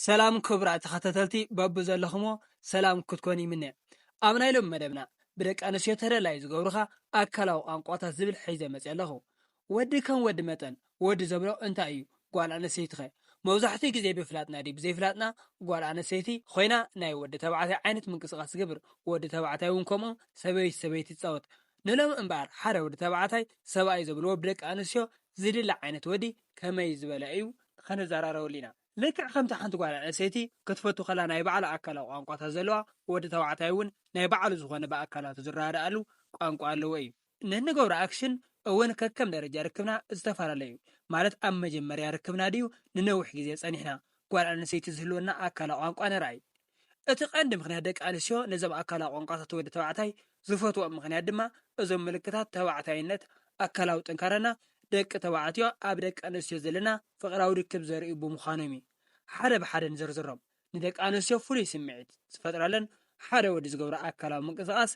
ሰላም ክቡራት ተኸታተልቲ በብዘለኹሞ ሰላም ክትኮኑ ይምነ። ኣብ ናይ ሎሚ መደብና ብደቂ ኣንስትዮ ተደላዩ ዝገብሩኻ ኣካላዊ ቋንቋታት ዝብል ሒዘ መጺ ኣለኹ። ወዲ ከም ወዲ መጠን ወዲ ዘብሎ እንታይ እዩ? ጓል ኣንስተይቲኸ? መብዛሕትኡ ግዜ ብፍላጥና ድዩ ብዘይፍላጥና ጓል ኣንስተይቲ ኾይና ናይ ወዲ ተባዕታይ ዓይነት ምንቅስቓስ ትገብር፣ ወዲ ተባዕታይ እውን ከምኡ ሰበይቲ ሰበይቲ ትጻወት። ንሎሚ እምበኣር ሓደ ወዲ ተባዕታይ ሰብኣይ ዘብልዎ ብደቂ ኣንስትዮ ዝድለ ዓይነት ወዲ ከመይ ዝበለ እዩ ኸነዘራረበሉ ኢና። ልክዕ ከምቲ ሓንቲ ጓል ኣንሰይቲ ክትፈቱ ከላ ናይ ባዕላ ኣካላዊ ቋንቋታት ዘለዋ ወዲ ተባዕታይ እውን ናይ ባዕሉ ዝኾነ ብኣካላቱ ዝረዳዳኣሉ ቋንቋ ኣለዎ እዩ። ንንገብሮ ኣክሽን እውን ከከም ደረጃ ርክብና ዝተፈላለየ እዩ። ማለት ኣብ መጀመርያ ርክብና ድዩ ንነዊሕ ግዜ ጸኒሕና ጓል ኣንሰይቲ ዝህልወና ኣካላዊ ቋንቋ ንርኣይ። እቲ ቀንዲ ምኽንያት ደቂ ኣንስትዮ ነዞም ኣካላዊ ቋንቋታት ወዲ ተባዕታይ ዝፈትወኦም ምኽንያት ድማ እዞም ምልክታት ተባዕታይነት፣ ኣካላዊ ጥንካረና፣ ደቂ ተባዕትዮ ኣብ ደቂ ኣንስትዮ ዘለና ፍቕራዊ ርክብ ዘርእዩ ብምዃኖም እዩ። ሓደ ብሓደ ንዘርዝሮም። ንደቂ ኣንስትዮ ፍሉይ ስምዒት ዝፈጥረለን ሓደ ወዲ ዝገብሮ ኣካላዊ ምንቅስቓስ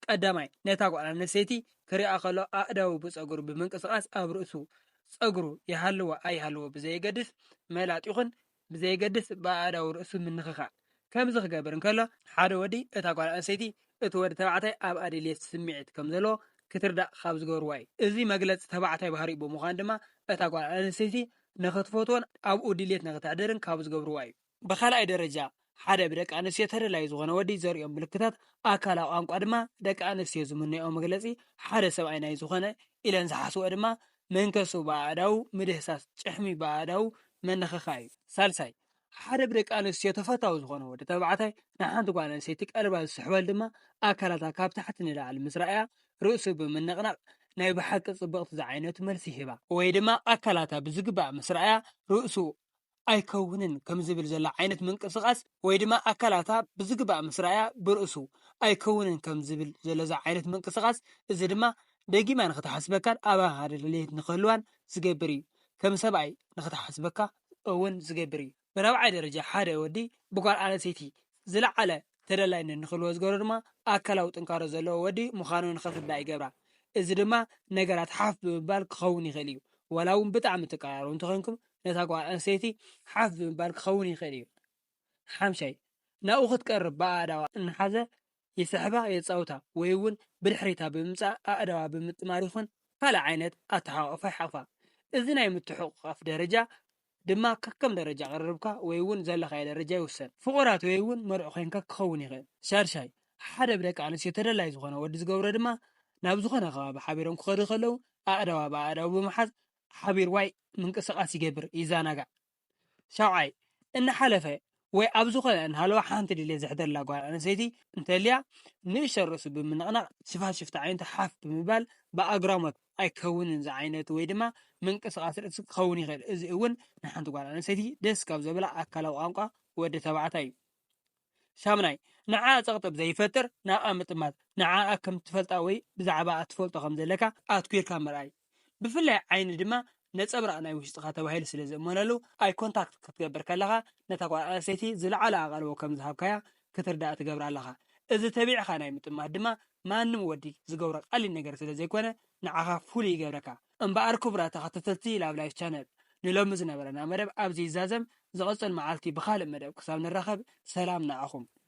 ቀዳማይ ነታ ጓል ኣንስተይቲ ክሪኣ ከሎ ኣእዳዉ ብጸጉሩ ብምንቅስቓስ ኣብ ርእሱ ጸጉሩ ይሃልዎ ኣይሃልዎ ብዘየገድስ መላጥ ይኹን ብዘየገድስ ብኣእዳው ርእሱ ምንኽኻእ ከምዚ ክገብር እንከሎ፣ ሓደ ወዲ እታ ጓል ኣንስተይቲ እቲ ወዲ ተባዕታይ ኣብኣ ድልየት ስምዒት ከም ዘለዎ ክትርዳእ ካብ ዝገብርዋ እዩ። እዚ መግለጺ ተባዕታይ ባህሪኡ ብምዃኑ ድማ እታ ጓል ኣንስተይቲ ንኽትፈትዎን ኣብኡ ድልየት ንኽተሕድርን ካብ ዝገብርዋ እዩ። ብኻልኣይ ደረጃ፣ ሓደ ብደቂ ኣንስትዮ ተደላዪ ዝኾነ ወዲ ዘርእዮም ምልክታት ኣካላዊ ቋንቋ ድማ ደቂ ኣንስትዮ ዝምነይኦ መግለጺ ሓደ ሰብኣይ ናይ ዝኾነ ኢለን ዝሓስብኦ ድማ መንከሱ ብኣእዳው ምድህሳስ ጭሕሚ ብኣእዳው ምንኽኻእ እዩ። ሳልሳይ፣ ሓደ ብደቂ ኣንስትዮ ተፈታዊ ዝኾነ ወዲ ተባዕታይ ንሓንቲ ጓል ኣንስተይቲ ቀልባ ዝስሕበል ድማ ኣካላታ ካብ ታሕቲ ንላዕሊ ምስ ረኣያ ርእሱ ብምንቕናቕ ናይ ብሓቂ ጽብቕቲ ዝዓይነቱ መልሲ ይህባ። ወይ ድማ ኣካላታ ብዝግባእ ምስ ረኣያ ርእሱ ኣይከውንን ከም ዝብል ዘሎ ዓይነት ምንቅስቓስ ወይ ድማ ኣካላታ ብዝግባእ ምስ ረኣያ ብርእሱ ኣይከውንን ከም ዝብል ዘሎ እዚ ዓይነት ምንቅስቓስ እዚ ድማ ደጊማ ንክትሓስበካን ኣባኻ ድልየት ንክህልዋን ዝገብር እዩ። ከም ሰብኣይ ንክትሓስበካ እውን ዝገብር እዩ። ብራብዓይ ደረጃ ሓደ ወዲ ብጓል ኣነስተይቲ ዝለዓለ ተደላይነት ንክህልዎ ዝገብሮ ድማ ኣካላዊ ጥንካሮ ዘለዎ ወዲ ምዃኑ ንክርዳእ ይገብራ። እዚ ድማ ነገራት ሓፍ ብምባል ክኸውን ይኽእል እዩ። ዋላ እውን ብጣዕሚ ትቀራረቡ እንተኾይንኩም ነታ ጓል ኣንስተይቲ ሓፍ ብምባል ክኸውን ይኽእል እዩ። ሓምሻይ፣ ናብኡ ክትቀርብ ብኣእዳዋ እናሓዘ ይስሕባ፣ የጻውታ ወይ እውን ብድሕሪታ ብምምጻእ ኣእዳዋ ብምጥማር ይኹን ካልእ ዓይነት ኣተሓቋቑፋ ይሓቑፋ። እዚ ናይ ምትሕቑቛፍ ደረጃ ድማ ከከም ደረጃ ቅርርብካ ወይ እውን ዘለኻዮ ደረጃ ይውሰን። ፍቑራት ወይ እውን መርዑ ኮይንካ ክኸውን ይኽእል። ሻድሻይ፣ ሓደ ብደቂ ኣንስትዮ ተደላዪ ዝኾነ ወዲ ዝገብሮ ድማ ናብ ዝኾነ ከባቢ ሓቢሮም ክኸዱ ከለዉ ኣእዳዋ ብኣእዳዉ ብምሓዝ ሓቢርዋይ ምንቅስቓስ ይገብር፣ ይዘናጋዕ። ሻውዓይ፣ እናሓለፈ ወይ ኣብ ዝኾነ እንሃለወ ሓንቲ ድሌት ዘሕድረላ ጓል ኣንስተይቲ እንተልያ ንእሽቶ ርእሱ ብምንቕናቕ ሽፋን ሽፍታ ኣዒንቱ ሓፍ ብምባል ብኣግራሞት ኣይከውንን ዝዓይነቱ ወይ ድማ ምንቅስቓስ ርእሲ ክኸውን ይኽእል እዚ እውን ንሓንቲ ጓል ኣንስተይቲ ደስ ካብ ዘብላ ኣካላዊ ቋንቋ ወዲ ተባዕታይ እዩ ሻምናይ ንዓኣ ጸቕጢ ዘይፈጥር ናብኣ ምጥማት ንዓኣ ከም ትፈልጣ ወይ ብዛዕባ ትፈልጦ ከም ዘለካ ኣትኲርካ ምርኣይ ብፍላይ ዓይኒ ድማ ነጸብራቕ ናይ ውሽጥኻ ተባሂሉ ስለ ዝእመነሉ፣ ኣይ ኮንታክት ክትገብር ከለኻ ነታ ጓል ኣንስተይቲ ዝለዓለ ኣቓልቦ ከም ዝሃብካያ ክትርዳእ ትገብራ ኣለኻ። እዚ ተቢዕካ ናይ ምጥማት ድማ ማንም ወዲ ዝገብሮ ቀሊል ነገር ስለ ዘይኮነ ንዓኻ ፍሉይ ይገብረካ። እምበኣር ክቡራት ተኸታተልቲ Love Life Channel ንሎሚ ዝነበረና መደብ ኣብዚ ይዛዘም፣ ዝቕጽል መዓልቲ ብኻልእ መደብ ክሳብ ንራኸብ ሰላም ንዓኹም።